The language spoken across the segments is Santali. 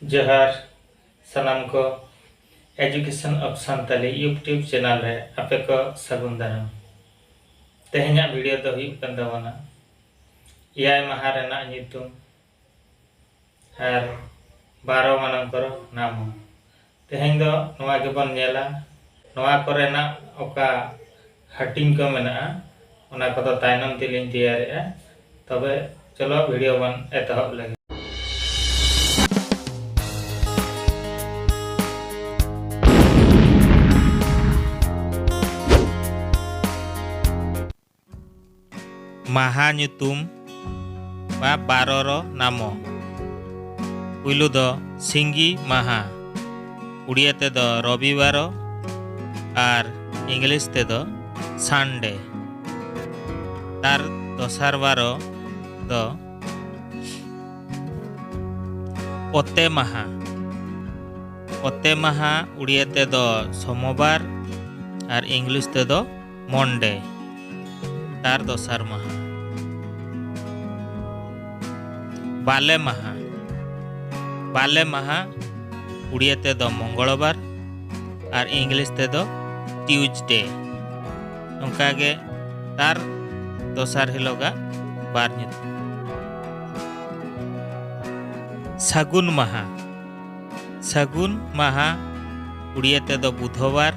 ᱡᱚᱦᱟᱨ ᱥᱟᱱᱟᱢ ᱠᱚ education of Santali YouTube channel ᱨᱮ ᱟᱯᱮ ᱠᱚ ᱥᱟᱹᱜᱩᱱ ᱫᱟᱨᱟᱢ ᱛᱮᱦᱮᱧᱟᱜ ᱵᱷᱤᱰᱤᱭᱳ ᱫᱚ ᱦᱩᱭᱩᱜ ᱠᱟᱱ ᱛᱟᱵᱚᱱᱟ ᱮᱭᱟᱭ ᱢᱟᱦᱟ ᱨᱮᱱᱟᱜ ᱧᱩᱛᱩᱢ ᱟᱨ ᱵᱟᱨᱚ ᱢᱟᱱᱟᱝ ᱠᱚᱨᱚ ᱱᱟᱢᱚ ᱛᱮᱦᱮᱧ ᱫᱚ ᱱᱚᱣᱟ ᱜᱮᱵᱚᱱ ᱧᱮᱞᱟ ᱱᱚᱣᱟ ᱠᱚᱨᱮᱱᱟᱜ ᱚᱠᱟ ᱦᱟᱹᱴᱤᱧ ᱠᱚ ᱢᱮᱱᱟᱜᱼᱟ ᱚᱱᱟ ᱠᱚᱫᱚ ᱛᱟᱭᱱᱚᱢ ᱛᱮᱞᱤᱧ ᱛᱮᱭᱟᱨᱮᱜᱼᱟ ᱛᱚᱵᱮ ᱪᱚᱞᱚ ᱵᱷᱤᱰᱤᱭᱳ ᱵᱚᱱ ᱮᱛᱚᱦᱚᱵ ᱞᱮᱜᱮ ᱢᱟᱦᱟ ᱧᱩᱛᱩᱢ ᱵᱟ ᱵᱟᱨᱚᱨᱚ ᱱᱟᱢᱚ ᱯᱩᱭᱞᱩ ᱫᱚ ᱥᱤᱸᱜᱤ ᱢᱟᱦᱟ ᱩᱲᱤᱭᱟ ᱛᱮᱫᱚ ᱨᱚᱵᱤᱵᱟᱨᱚ ᱟᱨ ᱤᱝᱞᱤᱥ ᱛᱮᱫᱚ ᱥᱟᱱᱰᱮ ᱛᱟᱨ ᱫᱚᱥᱟᱨ ᱵᱟᱨᱚ ᱫᱚ ᱚᱛᱮ ᱢᱟᱦᱟ ᱚᱛᱮ ᱢᱟᱦᱟ ᱩᱲᱤᱭᱟ ᱛᱮᱫᱚ ᱥᱚᱢᱚᱵᱟᱨ ᱟᱨ ᱤᱝᱞᱤᱥ ᱛᱮᱫᱚ ᱢᱚᱱᱰᱮ ᱛᱟᱨ ᱫᱚᱥᱟᱨ ᱢᱟᱦᱟ ᱵᱟᱞᱮ ᱢᱟᱦᱟ ᱵᱟᱞᱮ ᱢᱟᱦᱟ ᱩᱲᱤᱭᱟ ᱛᱮᱫᱚ ᱢᱚᱝᱜᱚᱞᱵᱟᱨ ᱟᱨ ᱤᱝᱞᱤᱥ ᱛᱮᱫᱚ ᱴᱤᱭᱩᱡᱽᱰᱮ ᱚᱱᱠᱟᱜᱮ ᱛᱟᱨ ᱫᱚᱥᱟᱨ ᱦᱤᱞᱳᱜᱟᱜ ᱵᱟᱨ ᱧᱩᱛᱩᱢ ᱥᱟᱹᱜᱩᱱ ᱢᱟᱦᱟ ᱥᱟᱹᱜᱩᱱ ᱢᱟᱦᱟ ᱩᱲᱤᱭᱟᱹ ᱛᱮᱫᱚ ᱵᱩᱫᱷᱚᱵᱟᱨ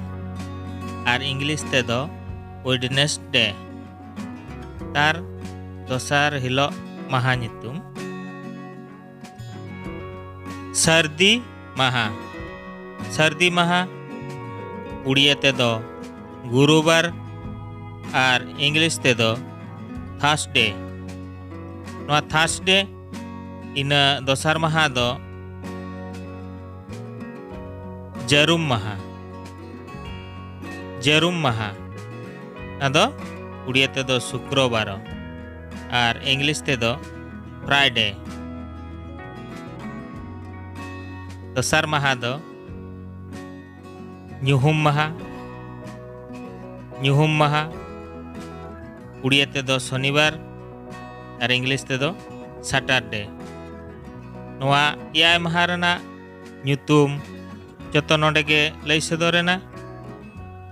ᱟᱨ ᱤᱝᱞᱤᱥ ᱛᱮᱫᱚ ᱳᱭᱮᱰᱱᱮᱥᱰᱮ ᱛᱟᱨ ᱫᱚᱥᱟᱨ ᱦᱤᱞᱳᱜ ᱢᱟᱦᱟ ᱧᱩᱛᱩᱢ ᱥᱟᱹᱨᱫᱤ ᱢᱟᱦᱟ ᱥᱟᱹᱨᱫᱤ ᱢᱟᱦᱟ ᱩᱲᱤᱭᱟᱹ ᱛᱮᱫᱚ ᱜᱩᱨᱩᱵᱟᱨ ᱟᱨ ᱤᱝᱞᱤᱥ ᱛᱮᱫᱚ ᱛᱷᱟᱥᱰᱮ ᱱᱚᱣᱟ ᱛᱷᱟᱥᱰᱮ ᱤᱱᱟᱹ ᱫᱚᱥᱟᱨ ᱢᱟᱦᱟ ᱫᱚ ᱡᱟᱹᱨᱩᱢ ᱢᱟᱦᱟ ᱡᱟᱹᱨᱩᱢ ᱢᱟᱦᱟ ᱟᱫᱚ ᱩᱲᱤᱭᱟ ᱛᱮᱫᱚ ᱥᱩᱠᱨᱚᱵᱟᱨ ᱟᱨ ᱤᱝᱞᱤᱥ ᱛᱮᱫᱚ ᱯᱷᱨᱟᱭᱰᱮ ᱫᱚᱥᱟᱨ ᱢᱟᱦᱟ ᱫᱚ ᱧᱩᱦᱩᱢ ᱢᱟᱦᱟ ᱧᱩᱦᱩᱢ ᱢᱟᱦᱟ ᱩᱲᱤᱭᱟ ᱛᱮᱫᱚ ᱥᱚᱱᱤᱵᱟᱨ ᱟᱨ ᱤᱝᱞᱤᱥ ᱛᱮᱫᱚ ᱥᱟᱴᱟᱨᱰᱮ ᱱᱚᱣᱟ ᱮᱭᱟᱭ ᱢᱟᱦᱟ ᱨᱮᱱᱟᱜ ᱧᱩᱛᱩᱢ ᱡᱚᱛᱚ ᱱᱚᱰᱮ ᱜᱮ ᱞᱟᱹᱭ ᱥᱚᱫᱚᱨᱮᱱᱟ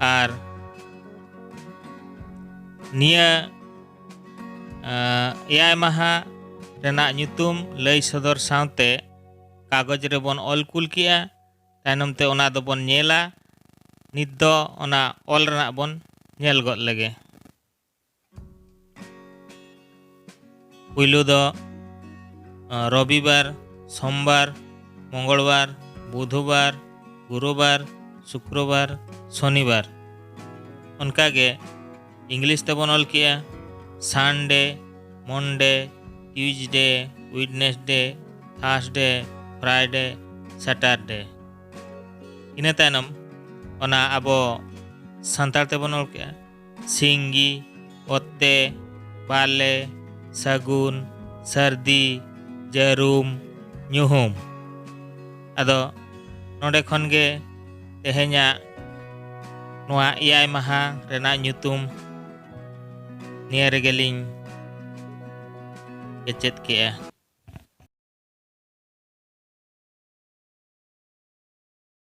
ᱟᱨ ᱱᱤᱭᱟᱹ ᱮᱭᱟᱭ ᱢᱟᱦᱟ ᱨᱮᱱᱟᱜ ᱧᱩᱛᱩᱢ ᱞᱟᱹᱭ ᱥᱚᱫᱚᱨ ᱥᱟᱶᱛᱮ ᱠᱟᱜᱚᱡᱽ ᱨᱮᱵᱚᱱ ᱚᱞ ᱠᱩᱞ ᱠᱮᱜᱼᱟ ᱛᱟᱭᱱᱚᱢ ᱛᱮ ᱚᱱᱟ ᱫᱚ ᱵᱚᱱ ᱧᱮᱞᱟ ᱱᱤᱛ ᱫᱚ ᱚᱱᱟ ᱚᱞ ᱨᱮᱱᱟᱜ ᱵᱚᱱ ᱧᱮᱞ ᱜᱚᱫ ᱞᱮᱜᱮ ᱯᱩᱭᱞᱩ ᱫᱚ ᱨᱚᱵᱤᱵᱟᱨ ᱥᱚᱢᱵᱟᱨ ᱢᱚᱝᱜᱚᱞᱵᱟᱨ ᱵᱩᱫᱷᱵᱟᱨ ᱜᱩᱨᱩᱵᱟᱨ ᱥᱩᱠᱨᱚᱵᱟᱨ ᱥᱚᱱᱤᱵᱟᱨ ᱚᱱᱠᱟᱜᱮ ᱤᱝᱞᱤᱥ ᱛᱮᱵᱚᱱ ᱚᱞ ᱠᱮᱜᱼᱟ ᱥᱟᱱᱰᱮ ᱢᱚᱱᱰᱮ ᱴᱤᱭᱩᱡᱰᱮ ᱩᱭᱤᱰᱱᱮᱥᱰᱮ ᱛᱷᱟᱨᱥᱰᱮ ᱯᱷᱨᱟᱭᱰᱮ ᱥᱮᱴᱟᱨᱰᱮ ᱤᱱᱟᱹ ᱛᱟᱭᱱᱚᱢ ᱚᱱᱟ ᱟᱵᱚ ᱥᱟᱱᱛᱟᱲ ᱛᱮᱵᱚᱱ ᱚᱞ ᱠᱮᱜᱼᱟ ᱥᱤᱝᱜᱤ ᱚᱛᱮ ᱵᱟᱞᱮ ᱥᱟᱹᱜᱩᱱ ᱥᱟᱹᱨᱫᱤ ᱡᱟᱹᱨᱩᱢ ᱧᱩᱦᱩᱢ ᱟᱫᱚ ᱱᱚᱰᱮ ᱠᱷᱚᱱ ᱜᱮ ᱛᱮᱦᱮᱧᱟᱜ ᱱᱚᱣᱟ ᱮᱭᱟᱭ ᱢᱟᱦᱟ ᱨᱮᱱᱟᱜ ᱧᱩᱛᱩᱢ ᱱᱤᱭᱟᱹ ᱨᱮᱜᱮᱞᱤᱧ ᱠᱮᱪᱮᱫ ᱠᱮᱜᱼᱟ